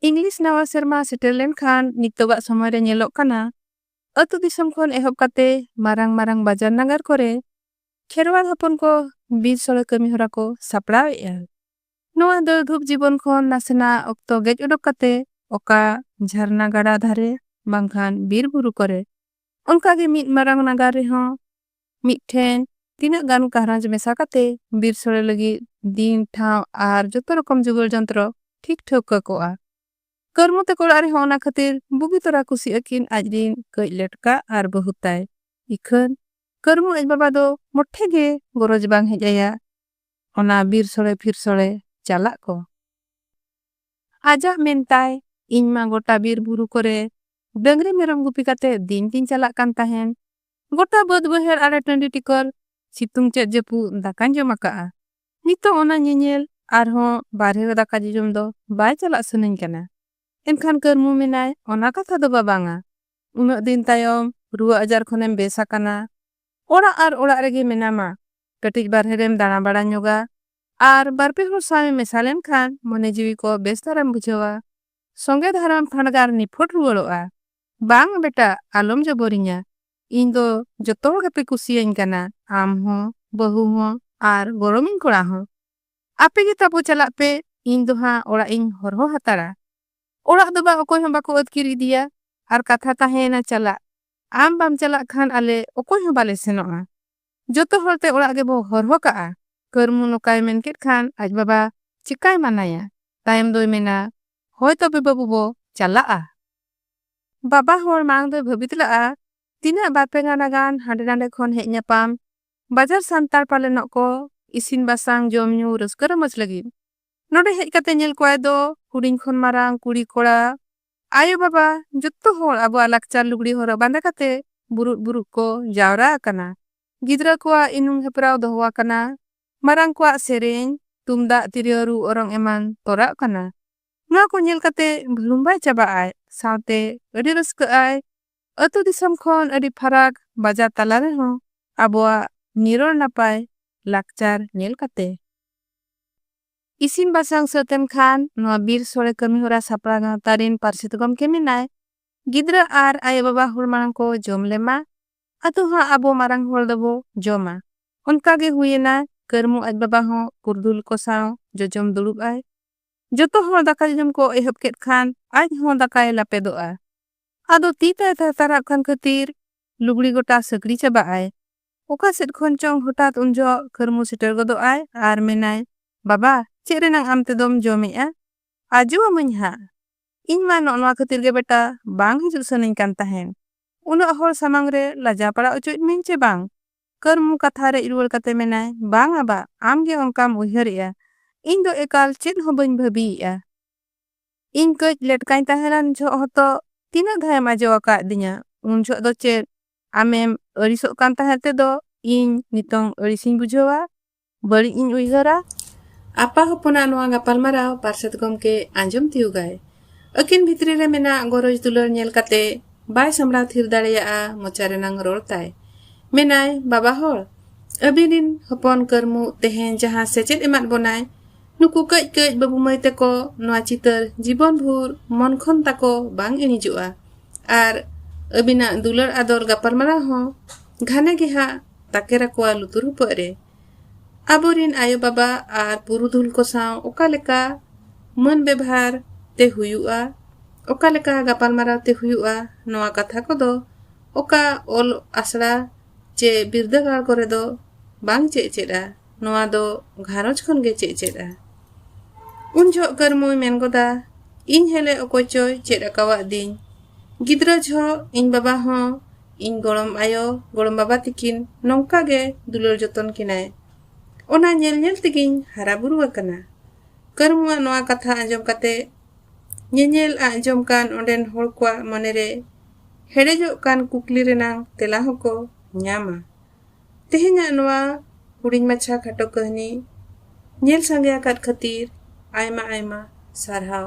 English ᱱᱟᱣᱟ ᱥᱮᱨᱢᱟ ᱥᱮᱴᱮᱨ ᱞᱮᱱᱠᱷᱟᱱ ᱱᱤᱛᱚᱜᱟᱜ ᱥᱚᱢᱚᱭ ᱨᱮ ᱧᱮᱞᱚᱜ ᱠᱟᱱᱟ ᱟᱹᱛᱩ ᱫᱤᱥᱚᱢ ᱠᱷᱚᱱ ᱮᱦᱚᱵ ᱠᱟᱛᱮ ᱢᱟᱨᱟᱝ ᱢᱟᱨᱟᱝ ᱵᱟᱡᱟᱨ ᱱᱟᱜᱟᱨ ᱠᱚᱨᱮ ᱠᱷᱮᱨᱣᱟᱲ ᱦᱚᱯᱚᱱ ᱠᱚ ᱵᱤᱨ ᱥᱚᱲᱮ ᱠᱟᱹᱢᱤ ᱦᱚᱨᱟ ᱠᱚ ᱥᱟᱯᱲᱟᱣ ᱮᱫᱼᱟ᱾ ᱱᱚᱣᱟ ᱫᱟᱹᱲ ᱫᱷᱩᱯ ᱡᱤᱵᱚᱱ ᱠᱷᱚᱱ ᱱᱟᱥᱮᱱᱟᱜ ᱚᱠᱛᱚ ᱜᱮᱡ ᱚᱰᱚᱠ ᱠᱟᱛᱮ ᱚᱠᱟ ᱡᱷᱟᱨᱱᱟ ᱜᱟᱰᱟ ᱫᱷᱟᱨᱮ ᱵᱟᱝᱠᱷᱟᱱ ᱵᱤᱨ ᱵᱩᱨᱩ ᱠᱚᱨᱮ ᱚᱱᱠᱟ ᱜᱮ ᱢᱤᱫ ᱢᱟᱨᱟᱝ ᱱᱟᱜᱟᱨ ᱨᱮᱦᱚᱸ ᱢᱤᱫ ᱴᱷᱮᱱ ᱛᱤᱱᱟᱹᱜ ᱜᱟᱱ ᱜᱷᱟᱨᱚᱸᱡᱽ ᱢᱮᱥᱟ ᱠᱟᱛᱮ ᱵᱤᱨ ᱥᱚᱲᱮ ᱞᱟᱹᱜᱤᱫ ᱫᱤᱱ, ᱴᱷᱟᱶ ᱟᱨ ᱡᱚᱛᱚ ᱨᱚᱠᱚᱢ ᱡᱚᱜᱟᱲ ᱡᱚᱱᱛᱨᱚ ᱴᱷᱤᱠ ᱴᱷᱟᱹᱣᱠᱟᱹ ᱠᱚᱜᱼᱟ᱾ ᱠᱟᱹᱨᱢᱩ ᱛᱟᱠᱚ ᱚᱲᱟᱜ ᱨᱮᱦᱚᱸ ᱚᱱᱟ ᱠᱷᱟᱹᱛᱤᱨ ᱵᱩᱜᱤ ᱛᱚᱨᱟ ᱠᱩᱥᱤᱜ ᱟᱹᱠᱤᱱ ᱟᱡ ᱨᱤᱱ ᱠᱟᱹᱡ ᱞᱮᱴᱠᱟ ᱟᱨ ᱵᱟᱹᱦᱩ ᱛᱟᱭ᱾ ᱤᱠᱷᱟᱹᱱ ᱠᱟᱹᱨᱢᱩ ᱟᱡ ᱵᱟᱵᱟ ᱫᱚ ᱢᱚᱴᱷᱮ ᱜᱮ ᱜᱚᱨᱚᱡᱽ ᱵᱟᱝ ᱦᱮᱡ ᱟᱭᱟ ᱚᱱᱟ ᱵᱤᱨ ᱥᱚᱲᱮ ᱯᱷᱤᱨ ᱥᱚᱲᱮ ᱪᱟᱞᱟᱜ ᱠᱚ᱾ ᱟᱡᱟᱜ ᱢᱮᱱ ᱛᱟᱭ, ᱤᱧ ᱢᱟ ᱜᱚᱴᱟ ᱵᱤᱨ ᱵᱩᱨᱩ ᱠᱚᱨᱮ ᱰᱟᱹᱝᱨᱤ ᱢᱮᱨᱚᱢ ᱜᱩᱯᱤ ᱠᱟᱛᱮ ᱫᱤᱱ ᱛᱤᱧ ᱪᱟᱞᱟᱜ ᱠᱟᱱ ᱛᱟᱦᱮᱸᱱ, ᱜᱚᱴᱟ ᱵᱟᱹᱫᱽ ᱵᱟᱹᱭᱦᱟᱹᱲ ᱟᱲᱮ ᱴᱟᱺᱰᱤ ᱴᱤᱠᱚᱨ ᱥᱤᱛᱩᱝ ᱪᱮᱫ ᱡᱟᱹᱯᱩᱫ ᱫᱟᱠᱟᱧ ᱡᱚᱢ ᱟᱠᱟᱫᱼᱟ ᱱᱤᱛᱚᱜ ᱚᱱᱟ ᱧᱮᱧᱮᱞ ᱟᱨᱦᱚᱸ ᱵᱟᱨᱦᱮ ᱨᱮ ᱫᱟᱠᱟ ᱡᱚᱡᱚᱢ ᱫᱚ ᱵᱟᱭ ᱪᱟᱞᱟᱜ ᱥᱟᱹᱱᱟᱹᱧ ᱠᱟᱱᱟ ᱮᱱᱠᱷᱟᱱ ᱠᱟᱹᱨᱢᱩ ᱢᱮᱱᱟᱭ ᱚᱱᱟ ᱠᱟᱛᱷᱟ ᱫᱚ ᱵᱟᱵᱟᱝᱟ ᱩᱱᱟᱹᱜ ᱫᱤᱱ ᱛᱟᱭᱚᱢ ᱨᱩᱣᱟᱹ ᱟᱡᱟᱨ ᱠᱷᱚᱱᱮᱢ ᱵᱮᱥ ᱟᱠᱟᱱᱟ ᱚᱲᱟᱜ ᱟᱨ ᱚᱲᱟᱜ ᱨᱮᱜᱮ ᱢᱮᱱᱟᱢᱟ ᱠᱟᱹᱴᱤᱡ ᱵᱟᱨᱦᱮ ᱨᱮᱢ ᱫᱟᱬᱟ ᱵᱟᱲᱟ ᱧᱚᱜᱟ ᱟᱨ ᱵᱟᱨᱯᱮ ᱦᱚᱲ ᱥᱟᱶᱮᱢ ᱢᱮᱥᱟ ᱞᱮᱱᱠᱷᱟᱱ ᱢᱚᱱᱮ ᱡᱤᱣᱤ ᱠᱚ ᱵᱮᱥ ᱫᱷᱟᱨᱟᱢ ᱵᱩᱡᱷᱟᱹᱣᱟ ᱥᱚᱸᱜᱮ ᱫᱷᱟᱨᱟᱢ ᱯᱷᱟᱸᱰᱜᱟᱨ ᱱᱤᱯᱷᱚᱴ ᱨᱩᱣᱟᱹᱲᱚᱜᱼᱟ᱾ ᱵᱟᱝ ᱵᱮᱴᱟ ᱟᱞᱚᱢ ᱡᱚᱵᱚᱨᱤᱧᱟ᱾ ᱤᱧ ᱫᱚ ᱡᱚᱛᱚ ᱦᱚᱲ ᱜᱮᱯᱮ ᱠᱩᱥᱤᱭᱟᱹᱧ ᱠᱟᱱᱟ ᱟᱢ ᱦᱚᱸ, ᱵᱟᱹᱦᱩ ᱦᱚᱸ ᱟᱨ ᱜᱚᱲᱚᱢᱤᱧ ᱠᱚᱲᱟ ᱦᱚᱸ᱾ ᱟᱯᱮ ᱜᱮ ᱛᱟᱵᱚ ᱪᱟᱞᱟᱜ ᱯᱮ ᱤᱧ ᱫᱚ ᱦᱟᱸᱜ ᱚᱲᱟᱜ ᱤᱧ ᱦᱚᱨᱦᱚ ᱦᱟᱛᱟᱲᱟ᱾ ᱚᱲᱟᱜ ᱫᱚ ᱵᱟᱝ ᱚᱠᱚᱭ ᱦᱚᱸ ᱵᱟᱠᱚ ᱟᱹᱛᱠᱤᱨ ᱤᱫᱤᱭᱟ ᱟᱨ ᱠᱟᱛᱷᱟ ᱛᱟᱦᱮᱸᱭᱮᱱᱟ ᱪᱟᱞᱟᱜ᱾ ᱟᱢ ᱵᱟᱢ ᱪᱟᱞᱟᱜ ᱠᱷᱟᱱ ᱟᱞᱮ ᱚᱠᱚᱭ ᱦᱚᱸ ᱵᱟᱞᱮ ᱥᱮᱱᱚᱜᱼᱟ᱾ ᱡᱚᱛᱚ ᱦᱚᱲ ᱛᱮ ᱚᱲᱟᱜ ᱜᱮᱵᱚ ᱦᱚᱨᱦᱚ ᱠᱟᱜᱼᱟ᱾ ᱠᱟᱹᱨᱢᱩ ᱱᱚᱠᱟᱭ ᱢᱮᱱ ᱠᱮᱫ ᱠᱷᱟᱱ ᱟᱡ ᱵᱟᱵᱟ ᱪᱮᱠᱟᱭ ᱢᱟᱱᱟᱭᱟ᱾ ᱛᱟᱭᱚᱢ ᱫᱚᱭ ᱢᱮᱱᱟ ᱦᱚᱭ ᱛᱚᱵᱮ ᱵᱟᱹᱵᱩ ᱵᱚ ᱪᱟᱞᱟᱜᱼᱟ᱾ ᱵᱟᱵᱟ ᱦᱚᱲ ᱢᱟᱲᱟᱝ ᱫᱚᱭ ᱵᱷᱟᱹᱵᱤᱛ ᱞᱟᱜᱼᱟ ᱛᱤᱱᱟᱹᱜ ᱵᱟᱨ ᱯᱮ ᱜᱟᱱᱟ ᱜᱟᱱ ᱦᱟᱸᱰᱮ ᱱᱟᱸᱰᱮ ᱠᱷᱚᱱ ᱦᱮᱡ ᱧᱟᱯᱟᱢ ᱵᱟᱡᱟᱨ ᱥᱟᱱᱛᱟᱲ ᱯᱟᱞᱮᱱᱚᱜ ᱠᱚ ᱤᱥᱤᱱ ᱵᱟᱥᱟᱝ ᱡᱚᱢ ᱧᱩ ᱨᱟᱹᱥᱠᱟᱹ ᱨᱚᱢᱚᱡᱽ ᱞᱟᱹᱜᱤᱫ᱾ ᱱᱚᱰᱮ ᱦᱮᱡ ᱠᱟᱛᱮ ᱧᱮᱞ ᱠᱚᱣᱟᱭ ᱫᱚ ᱦᱩᱰᱤᱧ ᱠᱷᱚᱱ ᱢᱟᱨᱟᱝ ᱠᱩᱲᱤ ᱠᱚᱲᱟ ᱟᱭᱳ ᱵᱟᱵᱟ ᱡᱚᱛᱚ ᱦᱚᱲ ᱟᱵᱚᱣᱟᱜ ᱞᱟᱠᱪᱟᱨ ᱞᱩᱜᱽᱲᱤ ᱦᱚᱨᱚᱜ ᱵᱟᱸᱫᱮ ᱠᱟᱛᱮ ᱵᱩᱨᱩᱫ ᱵᱩᱨᱩᱫ ᱠᱚ ᱡᱟᱣᱨᱟ ᱟᱠᱟᱱᱟ᱾ ᱜᱤᱫᱽᱨᱟᱹ ᱠᱚᱣᱟᱜ ᱤᱱᱩᱢ ᱦᱮᱯᱨᱟᱣ ᱫᱚᱦᱚ ᱟᱠᱟᱱᱟ᱾ ᱢᱟᱨᱟᱝ ᱠᱚᱣᱟᱜ ᱥᱮᱨᱮᱧ, ᱛᱩᱢᱫᱟᱜ, ᱛᱤᱨᱭᱚ ᱨᱩ ᱚᱨᱚᱝ ᱮᱢᱟᱱ ᱛᱚᱨᱟᱜ ᱠᱟᱱᱟ᱾ ᱱᱚᱶᱟ ᱠᱚ ᱧᱮᱞ ᱠᱟᱛᱮ ᱵᱷᱟᱹᱲᱩᱢᱵᱷᱟᱭ ᱪᱟᱵᱟᱜ ᱟᱭ ᱥᱟᱶᱛᱮ ᱟᱹᱰᱤ ᱨᱟᱹᱥᱠᱟᱹᱜ ᱟᱭ᱾ ᱟᱹᱛᱩ ᱫᱤᱥᱚᱢ ᱠᱷᱚᱱ ᱟᱹᱰᱤ ᱯᱷᱟᱨᱟᱠ ᱵᱟᱡᱟᱨ ᱛᱟᱞᱟ ᱨᱮᱦᱚᱸ ᱟᱵᱚᱣᱟᱜ ᱱᱤᱨᱚᱲ ᱱᱟᱯᱟᱭ ᱞᱟᱠᱪᱟᱨ ᱧᱮᱞ ᱠᱟᱛᱮ᱾ ᱤᱥᱤᱱ ᱵᱟᱥᱟᱝ ᱥᱟᱹᱛ ᱮᱱ ᱠᱷᱟᱱ ᱱᱚᱣᱟ ᱵᱤᱨ ᱥᱚᱲᱮ ᱠᱟᱹᱢᱤ ᱦᱚᱨᱟ ᱥᱟᱯᱲᱟᱣ ᱜᱟᱶᱛᱟ ᱨᱤᱱ ᱯᱟᱹᱨᱥᱤᱛ ᱜᱚᱢᱠᱮ ᱢᱮᱱᱟᱭ ᱜᱤᱫᱽᱨᱟᱹ ᱟᱨ ᱟᱭᱳ ᱵᱟᱵᱟ ᱦᱚᱲ ᱢᱟᱲᱟᱝ ᱠᱚ ᱡᱚᱢ ᱞᱮᱢᱟ ᱟᱫᱚ ᱦᱟᱸᱜ ᱟᱵᱚ ᱢᱟᱨᱟᱝ ᱦᱚᱲ ᱫᱚᱵᱚ ᱡᱚᱢᱟ ᱚᱱᱠᱟ ᱜᱮ ᱦᱩᱭ ᱮᱱᱟ ᱠᱟᱹᱨᱢᱩ ᱟᱡ ᱵᱟᱵᱟ ᱦᱚᱸ ᱯᱩᱨᱫᱩᱞ ᱠᱚ ᱥᱟᱶ ᱡᱚᱡᱚᱢ ᱫᱩᱲᱩᱵ ᱟᱭ ᱡᱚᱛᱚ ᱦᱚᱲ ᱫᱟᱠᱟ ᱡᱚᱡᱚᱢ ᱠᱚ ᱮᱦᱚᱵ ᱠᱮᱫ ᱠᱷᱟᱱ ᱟᱡ ᱦᱚᱸ ᱫᱟᱠᱟᱭ ᱞᱟᱯᱮᱫᱚᱜᱼᱟ ᱟᱫᱚ ᱛᱤ ᱛᱟᱭ ᱛᱷᱟᱨᱛᱷᱟᱨᱟᱜ ᱠᱟᱱ ᱠᱷᱟᱹᱛᱤᱨ ᱞᱩᱜᱽᱲᱤ ᱜᱚᱴᱟ ᱥᱟᱹᱠᱲᱤ ᱪᱟᱵᱟᱜ ᱟᱭ ᱚᱠᱟ ᱥᱮᱫ ᱠᱷᱚᱱ ᱪᱚᱝ ᱦᱚᱴᱟᱛ ᱩᱱ ᱡᱚᱦᱚᱜ ᱠᱟᱹᱨᱢᱩ ᱥᱮᱴᱮᱨ ᱜᱚᱫᱚᱜ ᱟᱭ ᱟᱨ ᱢᱮᱱᱟᱭ, ᱵᱟᱵᱟ, ᱪᱮᱫ ᱨᱮᱱᱟᱝ ᱟᱢ ᱛᱮᱫᱚᱢ ᱡᱚᱢᱮᱜᱼᱟ? ᱟᱡᱚ ᱟᱢᱟᱹᱧ ᱦᱟᱸᱜ᱾ ᱤᱧ ᱢᱟ ᱱᱚᱜ ᱱᱚᱶᱟ ᱠᱷᱟᱹᱛᱤᱨ ᱜᱮ ᱵᱮᱴᱟ ᱵᱟᱝ ᱦᱤᱡᱩᱜ ᱥᱟᱹᱱᱟᱹᱧ ᱠᱟᱱ ᱛᱟᱦᱮᱸᱱ᱾ ᱩᱱᱟᱹᱜ ᱦᱚᱲ ᱥᱟᱢᱟᱝ ᱨᱮ ᱞᱟᱡᱟᱣ ᱯᱟᱲᱟᱣ ᱚᱪᱚᱭᱮᱫ ᱢᱮᱭᱟᱹᱧ ᱪᱮ ᱵᱟᱝ? ᱠᱟᱹᱨᱢᱩ ᱠᱟᱛᱷᱟ ᱨᱮᱡ ᱨᱩᱣᱟᱹᱲ ᱠᱟᱛᱮ ᱢᱮᱱᱟᱭ, ᱵᱟᱝ ᱟ ᱵᱟ, ᱟᱢ ᱜᱮ ᱚᱱᱠᱟᱢ ᱩᱭᱦᱟᱹᱨᱮᱜᱼᱟ᱾ ᱤᱧ ᱫᱚ ᱮᱠᱟᱞ ᱪᱮᱫ ᱦᱚᱸ ᱵᱟᱹᱧ ᱵᱷᱟᱹᱵᱤᱭᱮᱜᱼᱟ᱾ ᱤᱧ ᱠᱟᱹᱡ ᱞᱮᱴᱠᱟᱹᱧ ᱛᱟᱦᱮᱸ ᱞᱮᱱ ᱡᱚᱦᱚᱜ ᱦᱚᱸᱛᱚ ᱛᱤᱱᱟᱹᱜ ᱫᱷᱟᱣ ᱮᱢ ᱟᱡᱚ ᱟᱠᱟᱫ ᱫᱤᱧᱟ᱾ ᱩᱱ ᱡᱚᱦᱚᱜ ᱫᱚ ᱪᱮᱫ ᱟᱢᱮᱢ ᱟᱹᱲᱤᱥᱚᱜ ᱠᱟᱱ ᱛᱟᱦᱮᱸᱫ ᱛᱮᱫᱚ ᱤᱧ ᱱᱤᱛᱚᱝ ᱟᱹᱲᱤᱥᱤᱧ ᱵᱩᱡᱷᱟᱹᱣᱟ, ᱵᱟᱹᱲᱤᱡ ᱤᱧ ᱩᱭᱦᱟᱹᱨᱟ᱾ ᱟᱯᱟ ᱦᱚᱯᱚᱱᱟᱜ ᱱᱚᱶᱟ ᱜᱟᱯᱟᱞᱢᱟᱨᱟᱣ ᱯᱟᱨᱥᱮᱛ ᱜᱚᱢᱠᱮ ᱟᱸᱡᱚᱢ ᱛᱤᱭᱩᱜᱟᱭ᱾ ᱟᱹᱠᱤᱱ ᱵᱷᱤᱛᱨᱤ ᱨᱮ ᱢᱮᱱᱟᱜ ᱜᱚᱨᱚᱡᱽ ᱫᱩᱞᱟᱹᱲ ᱧᱮᱞ ᱠᱟᱛᱮ ᱵᱟᱭ ᱥᱟᱢᱵᱽᱲᱟᱣ ᱛᱷᱤᱨ ᱫᱟᱲᱮᱭᱟᱜᱼᱟ ᱢᱚᱪᱟ ᱨᱮᱱᱟᱝ ᱨᱚᱲ ᱛᱟᱭ᱾ ᱢᱮᱱᱟᱭ, ᱵᱟᱵᱟ ᱦᱚᱲ, ᱟᱹᱵᱤᱱ ᱨᱤᱱ ᱦᱚᱯᱚᱱ ᱠᱟᱹᱨᱢᱩ ᱛᱮᱦᱮᱧ ᱡᱟᱦᱟᱸ ᱥᱮᱪᱮᱫ ᱮᱢᱟᱫ ᱵᱚᱱᱟᱭ, ᱱᱩᱠᱩ ᱠᱟᱹᱡ ᱠᱟᱹᱡ ᱵᱟᱹᱵᱩ ᱢᱟᱹᱭ ᱛᱮᱠᱚ ᱱᱚᱶᱟ ᱪᱤᱛᱟᱹᱨ ᱡᱤᱵᱚᱱ ᱵᱷᱩᱨ ᱢᱚᱱ ᱠᱷᱚᱱ ᱛᱟᱠᱚ ᱵᱟᱝ ᱤᱬᱤᱡᱚᱜᱼᱟ᱾ ᱟᱨ ᱟᱹᱵᱤᱱᱟᱜ ᱫᱩᱞᱟᱹᱲ ᱟᱫᱚᱨ ᱜᱟᱯᱟᱞᱢᱟᱨᱟᱣ ᱦᱚᱸ ᱜᱷᱟᱱᱮ ᱜᱮ ᱦᱟᱸᱜ ᱛᱟᱠᱮᱨ ᱟᱠᱚᱣᱟ ᱞᱩᱛᱩᱨ ᱦᱩᱯᱟᱹᱜ ᱨᱮ ᱟᱵᱚᱨᱤᱱ ᱟᱭᱳ ᱵᱟᱵᱟ ᱟᱨ ᱯᱩᱨᱩᱫᱷᱩᱞ ᱠᱚ ᱥᱟᱶ ᱚᱠᱟ ᱞᱮᱠᱟ ᱢᱟᱹᱱ ᱵᱮᱵᱷᱟᱨ ᱛᱮ ᱦᱩᱭᱩᱜᱼᱟ ᱚᱠᱟ ᱞᱮᱠᱟ ᱜᱟᱯᱟᱞᱢᱟᱨᱟᱣ ᱛᱮ ᱦᱩᱭᱩᱜᱼᱟ ᱱᱚᱣᱟ ᱠᱟᱛᱷᱟ ᱠᱚᱫᱚ ᱚᱠᱟ ᱚᱞ ᱟᱥᱲᱟ ᱪᱮ ᱵᱤᱨᱫᱟᱹᱜᱟᱲ ᱠᱚᱨᱮ ᱫᱚ ᱵᱟᱝ ᱪᱮᱫ ᱪᱮᱫᱼᱟ ᱱᱚᱣᱟ ᱫᱚ ᱜᱷᱟᱨᱚᱸᱡᱽ ᱠᱷᱚᱱ ᱜᱮ ᱪᱮᱫ ᱪᱮᱫᱼᱟ ᱩᱱ ᱡᱷᱚᱜ ᱠᱟᱹᱨᱢᱩᱭ ᱢᱮᱱ ᱜᱚᱫᱟ ᱤᱧ ᱦᱮᱞᱮ ᱚᱠᱚᱭ ᱪᱚᱭ ᱪᱮᱫ ᱟᱠᱟᱣᱟᱫ ᱫᱤᱧ ᱜᱤᱫᱽᱨᱟᱹ ᱡᱷᱚᱜ ᱤᱧ ᱵᱟᱵᱟ ᱦᱚᱸ ᱤᱧ ᱜᱚᱲᱚᱢ ᱟᱭᱳ ᱜᱚᱲᱚᱢ ᱵᱟᱵᱟ ᱛᱤᱠᱤᱱ ᱱᱚᱝᱠᱟ ᱜᱮ ᱫᱩᱞᱟᱹᱲ ᱡᱚᱛᱚᱱ ᱠᱤᱱᱟᱭ ᱚᱱᱟ ᱧᱮᱞ ᱧᱮᱞ ᱛᱮᱜᱤᱧ ᱦᱟᱨᱟ ᱵᱩᱨᱩ ᱟᱠᱟᱱᱟ ᱠᱟᱹᱨᱢᱩᱣᱟᱜ ᱱᱚᱣᱟ ᱠᱟᱛᱷᱟ ᱟᱸᱡᱚᱢ ᱠᱟᱛᱮ ᱧᱮᱧᱮᱞ ᱟᱸᱡᱚᱢ ᱠᱟᱱ ᱚᱸᱰᱮᱱ ᱦᱚᱲ ᱠᱚᱣᱟᱜ ᱢᱚᱱᱮᱨᱮ ᱦᱮᱲᱮᱡᱚᱜ ᱠᱟᱱ ᱠᱩᱠᱞᱤ ᱨᱮᱱᱟᱝ ᱛᱮᱞᱟ ᱦᱚᱸᱠᱚ ᱧᱟᱢᱟ ᱛᱮᱦᱮᱧᱟᱜ ᱱᱚᱣᱟ ᱦᱩᱰᱤᱧ ᱢᱟᱪᱷᱟ ᱠᱷᱟᱴᱚ ᱠᱟᱹᱦᱱᱤ ᱧᱮᱞ ᱥᱟᱸᱜᱮ ᱟᱠᱟᱫ ᱠᱷᱟᱹᱛᱤᱨ ᱟᱭᱢᱟ ᱟᱭᱢᱟ ᱥᱟᱨᱦᱟᱣ᱾